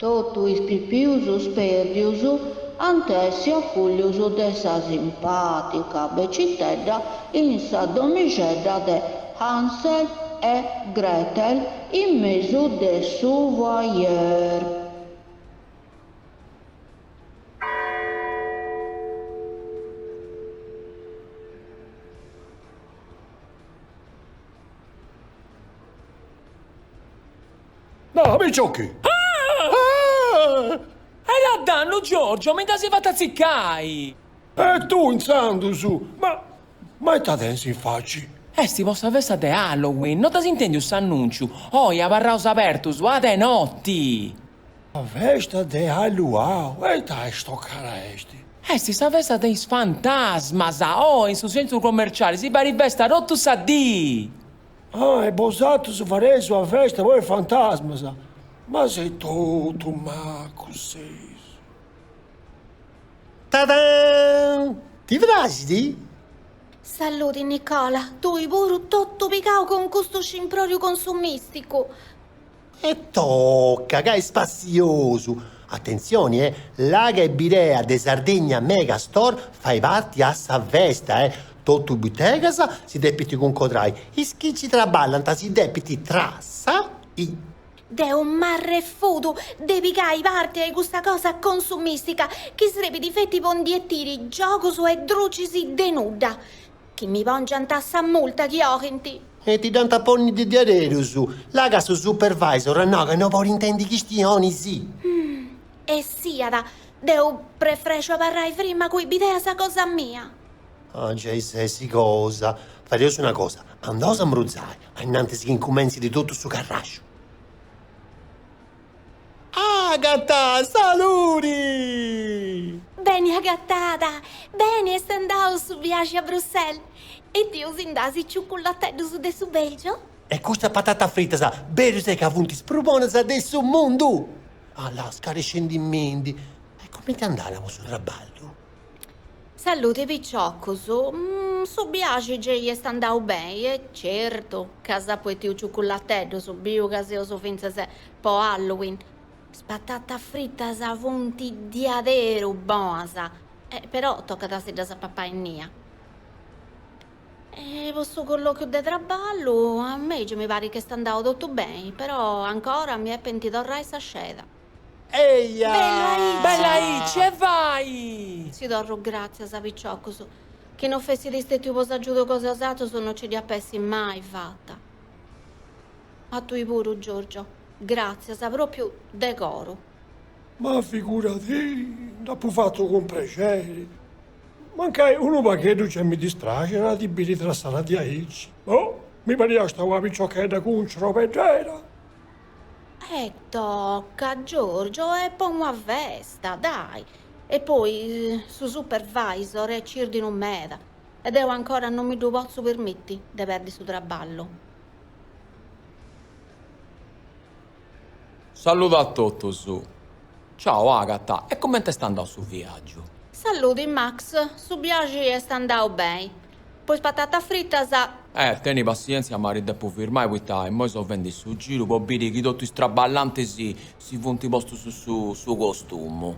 Totu is pipius spérdius ant a essi acollius de sa simpàtica becitedda in sa domixedda de Hansel e Gretel in mesu de su foyer. No, mi 'ochis! Ah! Ta dannu, Giorgio, mi nd'as fatu atziccai! E tu, intzandus! Ma. Ma ita tensi in faci? Esti po sa festa de Halloween, no dd'as intendiu s'annunciu? Oi, abarraus abertus, a de notti! Sa festa de Halluau! E ita stocada esti? Esti sa festa de is fantasmas! Oi, in su centru commerciali si fait festa tottu sa dì! Ah, e bosatrus fareis una festa po is fantasmas? Ma seis totu macus seis. Tadaan! Ti praxit? Saludi Nicola, tui puru totu pigau cun custu scimproriu consumisticu. E toca ca est spassiosu. Atentzioni e, la' ca in bidea de Sardegna Mega Store fait parti a sa festa e totu butegas si depint cuncodrai. Is chi nci traballant si depint trassai. Deu m'arrefudu de pigai parti a custa cosa consumistica chi srebit feti po bendi giogus e drucis de nudda. Chi mi pòngiant sa multa chi 'olint. E ti dd'ant a ponni de diaderus. La' ca su supervisor at nau ca no bolit intendi chistionis. E siat, deu prefrexu abarrai frima cun is bideas cosa mia. Ah, giai ses cosa. Fadeus una cosa, andaus a smurzai, ainnantis chi incumentzit totu su carraxu. Agata, saludi! Beni agatada! Beni est andau su viaxi a Bruxelles? 'Etiu si nd'as ciuculateddus de su Belgio? E custas patatas fritas, berus est ca funt is prus bonas de su mundu! Allà, scarescendimindi, e cumenti est andada cun su traballu? Saludi piciocus, su biaxi gei est andau beni e certu ca s'apu 'ettiu ciucculatteddus, biu ca seus fintzas po Halloween, is patatas fritas funt diaderu bonas, però tocat a si ddas papai innia. E po su collòchiu de traballu, a mei gei mi parit chi est andau totu beni, però ancora mi 'epint torrai sa sceda. Eia! Bella aici, e vai! Si torru gràtzias piciocus, chi no fessiri stètiu po s'agiudu cosa 'e osatrus no ci dd'iap'essi mai fata. A tui puru, Giorgio, gràtzias, pròpiu de coru. Ma figurati, dd'apu fatu cun prexeri. Mancai unu pagheddu gei mi dispraxit a ti biri trassara diaici. Boh, mi pariasta una piciochedda cun cirobeddera. E toca, Giorgio, est po una festa, dai! E poi su supervisor est cirdinu meda e deu ancora non mi ddu potzu permitti de perdi su traballu. Saludu a totus. Ciao, Agata, e comente est andau su viagiu? Saludi, Max, su biaxi est andau bei. Po is patatas fritas. Eh, teni passièntzia ma ti depu firmai poita immoi so fendi su giru po biri chi totu is traballantis si funt postus su costumu.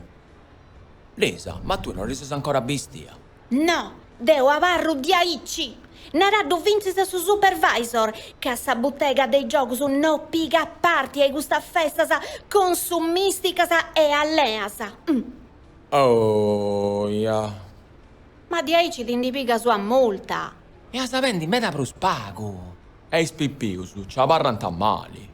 Lisa, ma tui non ti ses ancora bistia? No, deu abarru diaici! Naraddu fintzis a su supervisor ca sa butega de is giogus no pigat parti a i custas festas consumisticas e alleas. Oh, ja. Ma diaici ti ndi pigas una multa! E as a bendi meda prus pagu! E is pipius ci abarrant mali!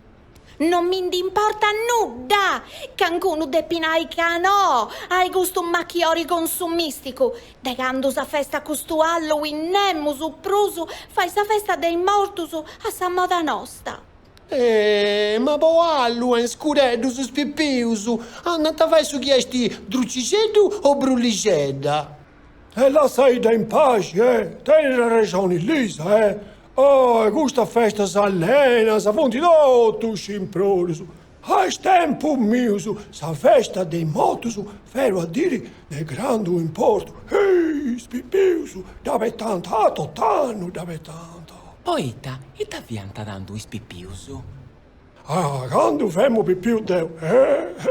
Non mi ndi importa nudda! Cancunu depit nai ca no a i custu machiori consumisticu! De candu s'afestat custu Halloween nemus prus fait sa festa de is mortus a sa moda nosta! ma po Halloween scureddus is pipius andant a fai su chi est drucixeddu o brullixedda. E lassaidda in paxi e. Tenit arrexoni Lisa e. Oe custas festas allenas funt totu scimprorius. A is tempus mius sa festa de is motus fiat una diri de grandu importu. Hii is pipius dd'abetant tot'annu dd'abetant. Poita, ita fiant tando is pipius? Ah, candu femu pipiu deu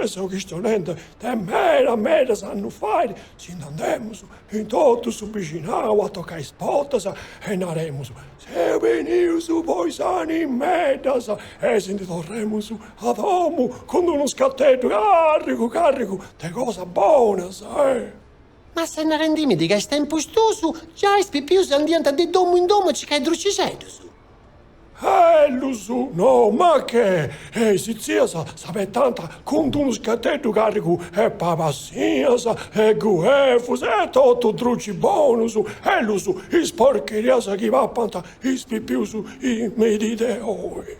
e seu chistionendi de medas medas annus fait, si nd'andemus in totu su bixinau a tocai is portas e naremus, seus benius po is animeddas e si ndi torremus a domu cun unu scateddu carrigu carrigu de cosas bonas. Ma ses narendimidi ca a is tempus tuus giai is pipius andiant de domu in domu a cicai drucixeddus? Aellus, No, ma che! E is tzias s'abetant cun d'unu scateddu carrigu 'e pabassinas e guefus e totu drucis bonus, ellus is porcherias chi papant is pipius in medi de oi.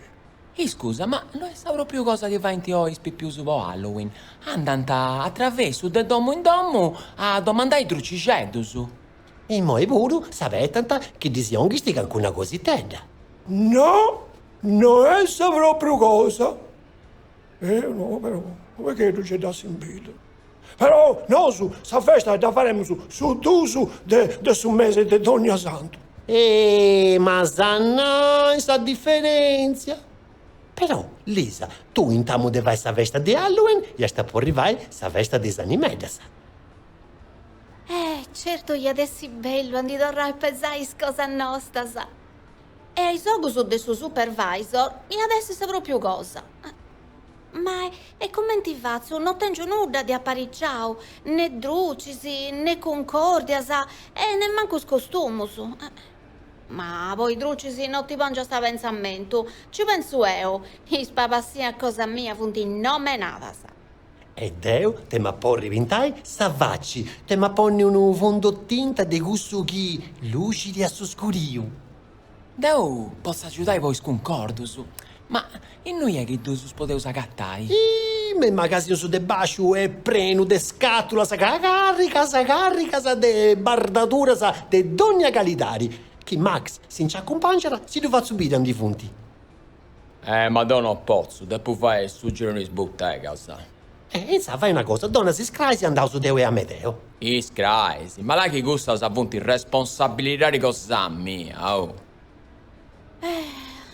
Iscusa, ma no est sa pròpriu cosa chi faint oi is pipius po Halloween? Andant a travessu de domu in domu a domandai drucixeddus. Imoi puru s'abetant chi ddis jonghis calincuna cositedda. No, no est sa pròpriu cosa. E no, però unu pagheddu nci dd'assimbilu? Però nosu sa festa dda faremus su duus de su mese de dònnia santu. Eeh, ma sa nà sa diferèntzia! Però, Lisa, tui in tamu de fai sa festa de Halloween iast a pòrri fai sa festa de is animeddas. Eh, certu iat essi bellu a ndi torrai a pesai is cosas nostas! E a is ogus de su supervisor iat essi sa pròpiu cosa. Ma e cumenti fatzu, no tèngiu nudda de apariciau, ne drucis, ne cuncòrdias e nemmancu is costumus. Ma po is drucis no ti pòngias a pentzamentu, nci pentzu eo, is pabassas cosa mia funt nomenadas. E deu te m'at porri pintai sa faci, te m'at ponni unu fundotinta de cussu chi luxit a su scuriu. Deu potzu agiudai po is cuncordus, ma innui est chi ddus podeus agatai? Iih, me is magasinus de bàsciu est prenu de scàtulas carricas carricas de bardaduras de dònnia calidadi. Chi Max si nci acumpangiat, si ddu fatzu biri aundi funti. Eh, ma deo no potzu, depu fai su giru in is butegas. Eh, intzà fai una cosa, dona-sì is crais e andaus deu e Amedeo. Is crais? Ma là chi cussas funt responsabilidadi cosa mia, oh! Eh,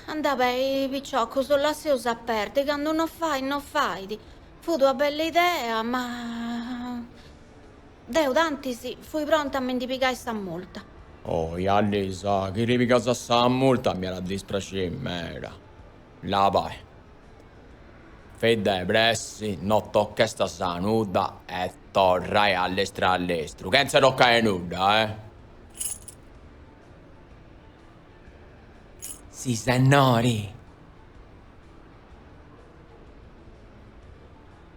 andai bai, piciocus, lasseus a perdi, candu no fait, no fait. Fut una bella idea, ma. Deu tantis fui pronta a mi ndi pigai sa multa. Ohia Lisa, chi ti pigas sa multa mi at a dispraxiri meda. La, bai. Fei de pressi, no tochestas nudda e torrai a lestru a lestru, chentza toccai nudda, eh! Sisennori!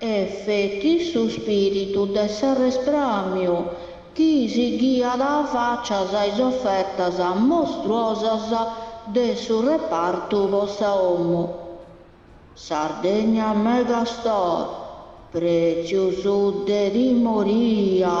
Est feti su spiritu de s'arrespramiu chi si ghiat facias a is ofertas mostruosas de su repartu po sa omu. Sardegna Megastore, pretzius de timoria!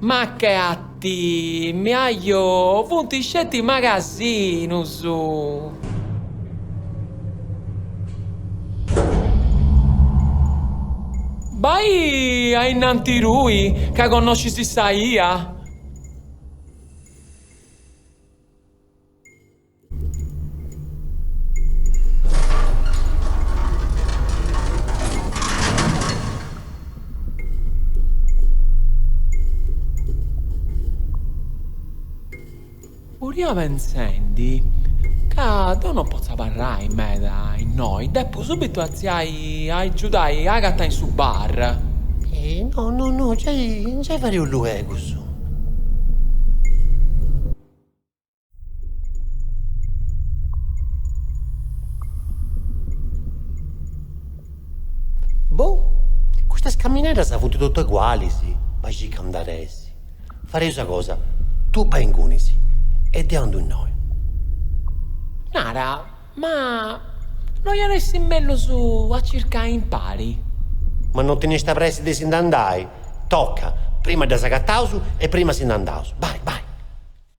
Ma che atti, mi ajò, funt sceti magasinus! Bai ainnanti tui, ca connoscis sa 'ia. Furia pensendi ca deu no potzu abarrai meda innoi, depu subitu atziai a agiudai a Agata in su bar. No, no, no, giai fareus luegus. Boh, custas camineras funt totu egualis, bai circa aundi at essi. Fareus una cosa, tui bai ingunis e deu andu innoi. Nara, ma no iat essi mellus a circai impari? Ma no teniast pressi de si nd'andai, toca, prima ddas agataus e prima si nd'andaus. Bai, bai.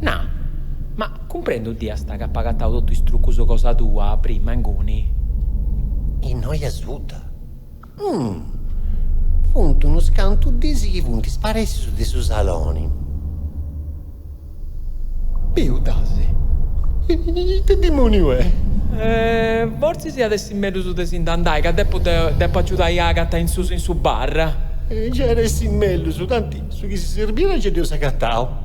Na, ma cumprèndiu dd'iast ca apu agatau totu is trucus cosa tua, prima, inguni. Innoi a suta? Umm. Funt unus cantu dis chi funt isparèssius de su saloni. Biu dd'as. Ita dimòniu est? Fortzis iat essi mellus de si nd'andai, ca depu depu agiudai a Agata in susu in su bar. Gei iat essi mellus, tanti su chi si serbiat gei dd'eus agatau.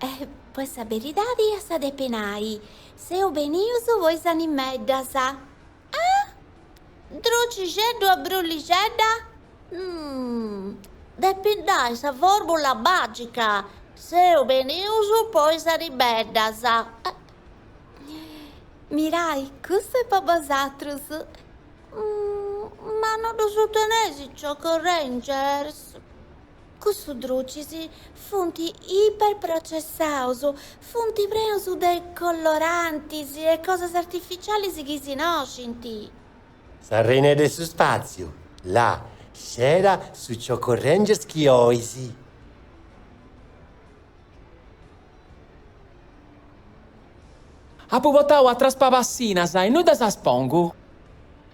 E poi sa beridadi as a depi nai, seus benius po is animeddas. Ah! Drucixeddu o brullixedda? Umm! Depint nai sa formula magica, seus benius po is animeddas. Eh! Mirai, custu est po bosatrus. Umm! Ma no ddus teneis is Choco Rangers? Cussus drucis funt iperprocessaus, funt preus de colorantis e cosas artificialis chi si noscint. Sa reina de su spàssiu, là, scera su Choco Rangers chi ois. Apu portau atras pabassinas e innui ddas pongu.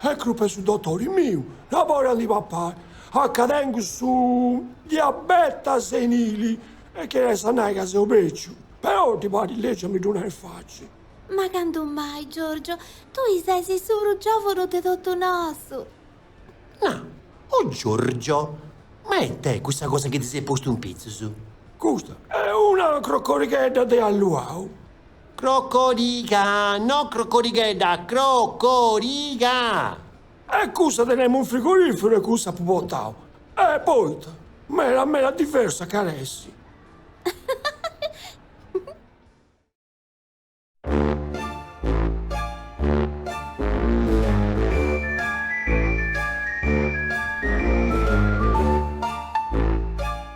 Est crupa 'e su dotori miu, no bolit a ndi papai, a ca tengu su diabeta senili e chi est a nai ca seu beciu. Però ti parit legi a mi ddu nai in faci? Ma candu mai, Giorgio? Tui ses su prus giòvunu de totu nosu! Na, o Giorgio, ma e ite est cussa cosa chi ti ses postu in pitzus? Custa est una crocorighedda de alluau. Crocoriga, no crocorighedda, crocoriga! E cussa tenemu in frigoriferu e cussa apu portau e poita meda meda diversa c'at essi.